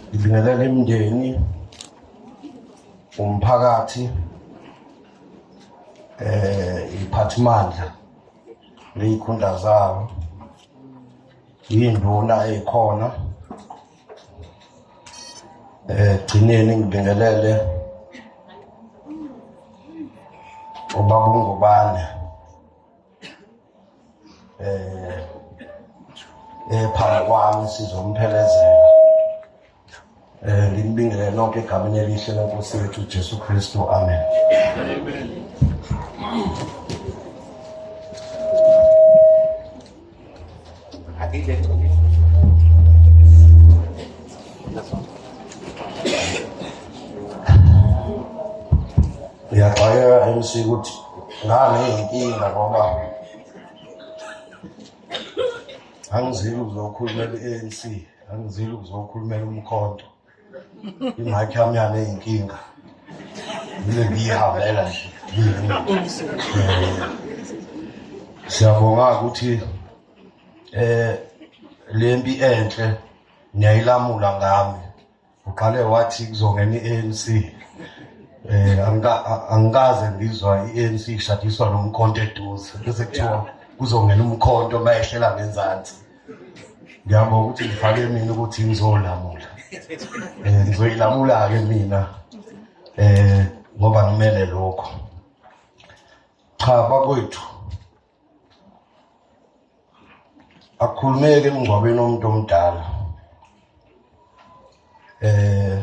ngibingelela imndeni umphakathi eh iphathimandla leyikhundla zawo yinduna eyikhona eh gcineni ngibingelele ubabungubane eh ephambi eh, kwami sizomphelezela eh nginibingele nonke egameni elihle lenkosi yethu uJesu Kristu amen amen uyaqhayeka MC ukuthi ngane inkinga ngoba angizile ukuzokhulumela i-ANC angizile ukuzokhulumela umkhonto ingakhi yami yale inkinga yile ngiyihambela nje siyabonga ukuthi eh lempi enhle niyayilamula ngami uqale wathi kuzongena i-ANC eh angikaze ngizwa i-ANC ishadiswa nomkhonto eduze bese kuthiwa kuzongena umkhonto mayehlela ngenzansi ngiyabonga ukuthi ngifake mina ukuthi ngizolamula um ngizoyilamula-ke mina um ngoba ngimele lokho cha bakwethu akukhulumeke emngcwabeni omuntu omdala eh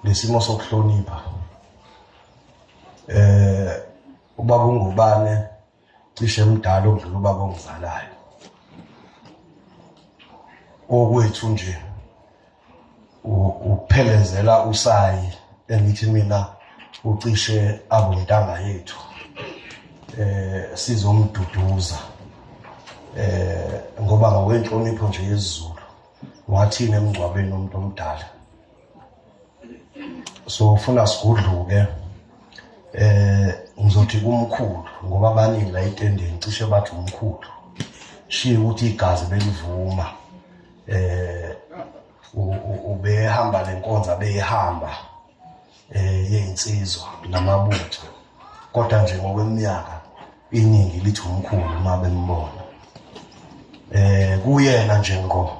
lesimo sokuhlonipha eh ubaba ungubane cishe mdala okudlula ubaba ongizalayo okwethu nje uphelezela usayi engithi mina ucishe abontanga yethu eh sizomduduza eh ngoba ngokwenhlonipho nje yezulu wathini emngcwabeni umuntu omdala so ufuna sigudluke eh ngizothi kumkhulu ngoba abaningi la etendeni cishe bathi umkhulu shiye ukuthi igazi belivuma eh ubehamba lenkonza beyihamba eh yensizwa namabutho kodwa nje ngokweminyaka iningi lithi umkhulu uma bembona eh kuyena nje ngo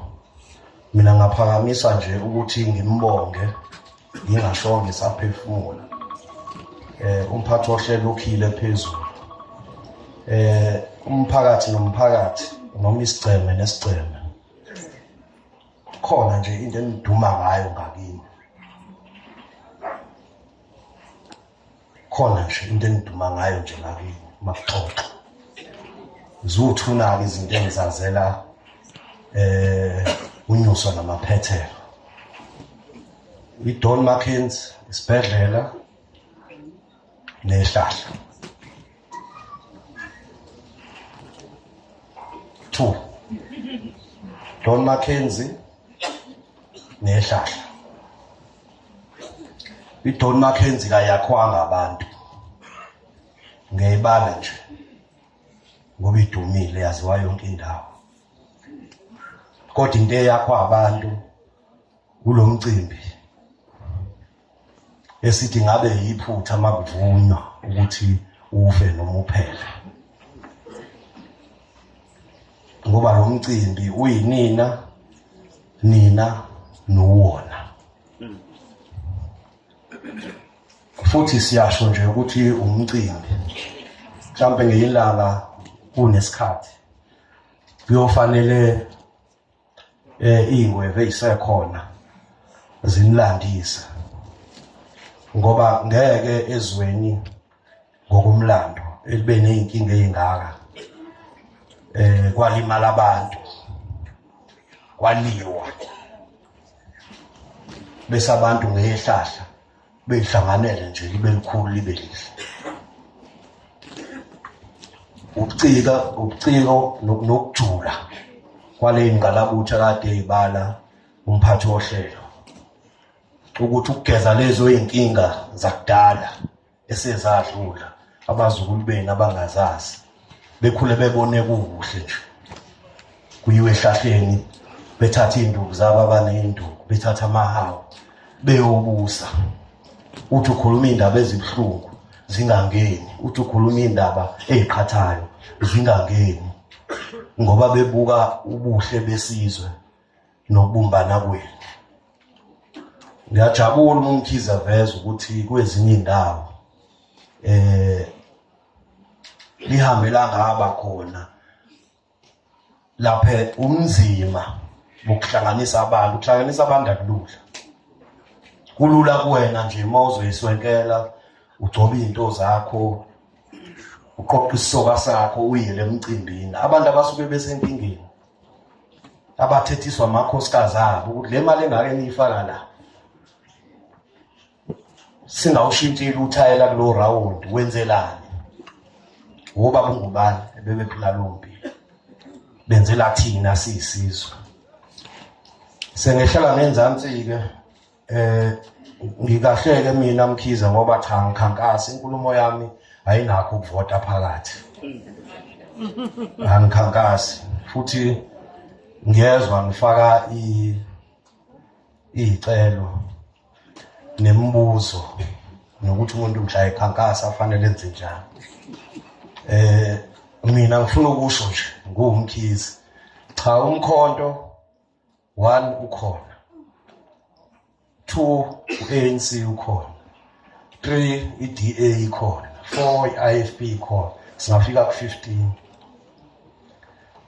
mina ngaphakamisa nje ukuthi ngimbonge ngingashonge saphefumula eh umphathi wohlelo ukhile phezulu eh umphakathi nomphakathi noma isigceme nesigceme khona nje into eniduma ngayo ngakini khona nje into engiduma ngayo nje ngakini uma kuxoxa ziwuthuna-ke izinto engizazela eh unyuso namaphethelo idon markins isibhedlela nehlahla two don mackenzie nehlahla idon mackenzie kayakhwanga abantu ngiyayibala nje ngoba idumile yaziwa yonke indawo kodwa into eyakho abantu kulo mcimbi esithi ngabe yiphutha makuvunywa ukuthi ufe noma uphele ngoba lo mcimbi uyinina nina nowona hmm. futhi siyasho nje ukuthi umcimbi mhlampe ngeyilanga kunesikhathi kuyofanele eh ingweve isekhona zinilandisa ngoba ngeke ezweni ngokumlando elibe nezinkinga ezingaka eh kwalimala abantu kwaliwa bese abantu ngehlahla beyihlanganele nje libe likhulu libe lihle ubucika ubuciko nokujula kwale ngqalabutha kade ibala umphathi wohlelo ukuthi ukugeza lezo inkinga zakudala esezadlula abazukulu benu abangazazi bekhule bebone kukuhle nje kuyiwe ehlahleni bethatha iy'nduku zabo abaney'nduku bethatha amahawu beyobusa uthi ukhuluma iy'ndaba ezibuhlungu zingangeni uthi ukhuluma iy'ndaba ey'qhathayo zingangeni ngoba bebuka ubuhle besizwe nokubumbana kwenu ngiyajabula umkhize veza ukuthi kwezinye indawo eh lihambe langaba khona laphe umzima ukuhlanganisa abantu ukuhlanganisa abantu akulula kulula kuwena nje uma uzoyiswenkela ugcoba izinto zakho uqoqa isisoka sakho uyele emcimbini abantu abasuke besenkingeni abathethiswa amakhosikazi abo ukuthi le mali engake niyifaka la singawushintshile uthayela kulo round wenzelani ngoba kungubani ebebephula lompi benzela thina siyisizwe sengehlala ngenzansi ke eh ngikahleke mina mkhize ngoba cha ngikhankasa inkulumo yami ayinakho ukuvota phakathi angikhankasi futhi ngiyezwa ngifaka icelo nemibuzo nokuthi umuntu mhla ekhankasa afanele enze njani eh mina ngifuna ukusho nje nguwumkhizi cha umkhonto one ukhona two u-anc ukhona three i-da ikhona four i-ifp ikhona singafika ku-fifteen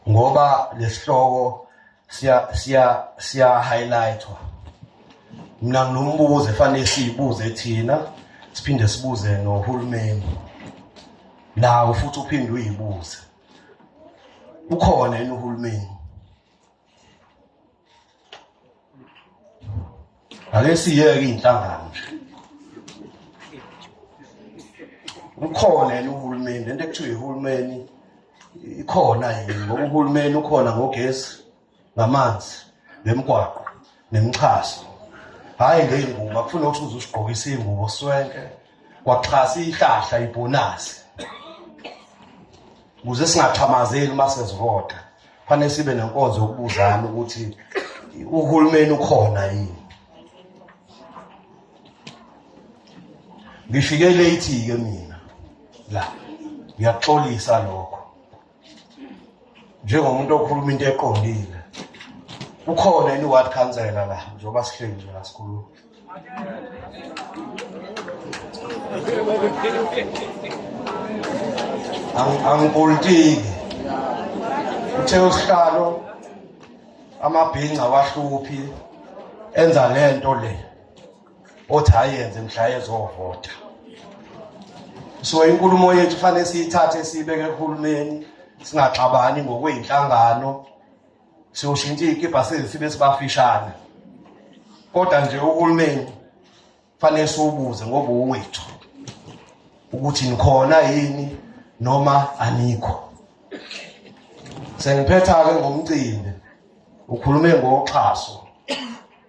ngoba lesihloko siya siya siya highlightwa mina nginombuzo efanele siyibuze thina siphinde sibuze nohulumeni nawo futhi uphinde uyibuze ukhona yini uhulumeni ake siyeke iy'nhlangano nje ukhona yena uhulumeni lento ekuthiwa ihulumeni ikhona yini ngoba uhulumeni ukhona ngogesi ngamanzi nemgwaqo nemixhaso hhayi ngey'ngubo akufuna ukuthi uze usigqokise iy'ngubo swenke kwaxhasa ihlahla ibhonasi ukuze singathamazeli uma sesivota kufanele sibe nenkonzo yokubuzana ukuthi uhulumeni ukhona yini ngifike late-ke mina la ngiyaxolisa lokho njengomuntu okhuluma into eqondile ukhona yini ward councillor la njengoba sihleli nje la sikhuluma angipolitiki uthe usihlalo amabhinca wahluphi enza lento le othi ayenze mhla ezovota so inkulumo yethu fanele siyithathe siyibeke kuhulumeni singaxabani ngokweyinhlangano siyoshintsha iy'kibha sezi sibe sibafishane kodwa nje uhulumeni fanele siwubuze ngoba uwethu ukuthi nikhona yini noma anikho sengiphetha-ke ngomcimbi ukhulume ngoxhaso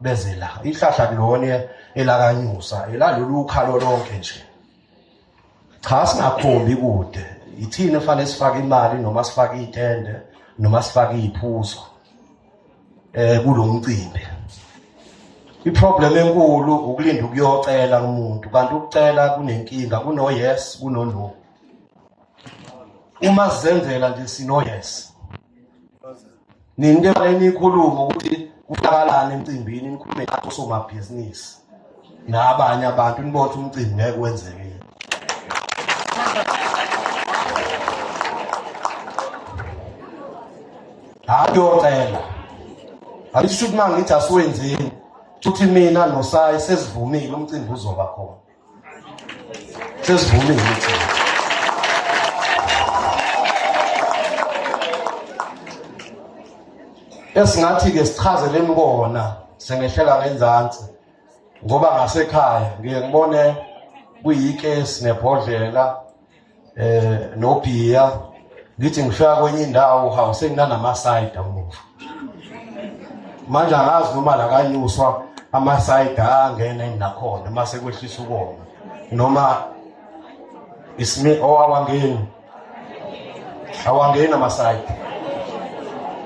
beze la ihlahla kulona elakanyusa elalolu ukhalo lonke nje cha singakhombi kude yithini efanele sifake imali noma sifake itende noma sifake iphuzo eh kulomcimbi iproblem enkulu ukulinda ukuyocela umuntu kanti ukucela kunenkinga kuno yes kuno no uma sizenzela nje sino yes nini ke bale nikhuluma ukuthi kuhlakalana emcimbini nikhulume ngathi osomabhizinisi nabanye abantu nibothe umcimbi ngeke wenzeke hayi yocela ayisho ukuthi uma ngithi asiwenzeni futhi mina nosayi sesivumile umcimbi uzoba khona sesivumile esingathi-ke sichazeleni kona sengehlela ngenzansi ngoba ngasekhaya ngiye ngibone kuyikesi nebhodlela eh nobhiya ngithi ngifika kwenye indawo hawu senginanamasayida umuva manje angazi noma lakanyuswa amasayida angena nakhona uma sekwehlisa ukoma noma isimi owawangeni oh, awangeni amasayida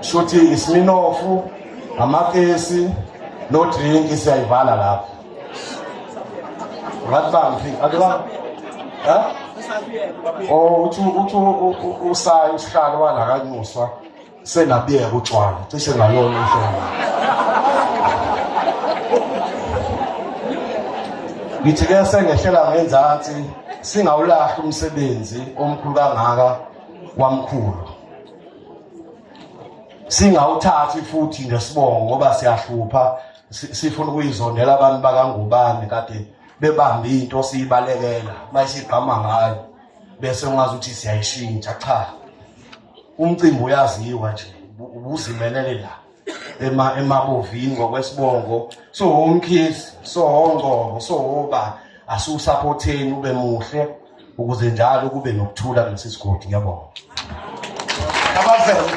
shuthi isiminofu amakesi no drink siyayivala lapho ngathi akuzange ha oh uthi uthi usayi usihlalo wala kanyuswa senabiyeka utshwala cishe ngalona uhlobo ngithi ke sengehlela ngenzansi singawulahli umsebenzi omkhulu kangaka wamkhulu singawuthathi futhi nesibongo ngoba siyahlupha sifuna ukuyizondela abantu bakangubane kade bebambe into siyibalekela bayisigqama ngayo bese ungazi ukuthi siyayishintsha cha umcimbi uyaziwa nje ubuzimelele la ema emabovini ngokwesibongo so umkhizi so ngcobo so ba asusaphotheni ube muhle ukuze njalo kube nokuthula kulesi sigodi ngiyabonga abazeli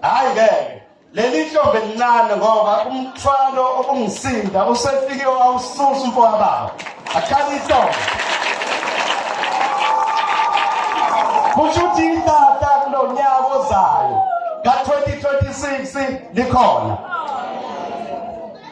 hayi ke leli ntombi elincane ngoba umthwalo obungisinda usefike wawususa umfowababa akhale intombi kusho ukuthi itata kulo nyaka ozayo ka-2026 likhona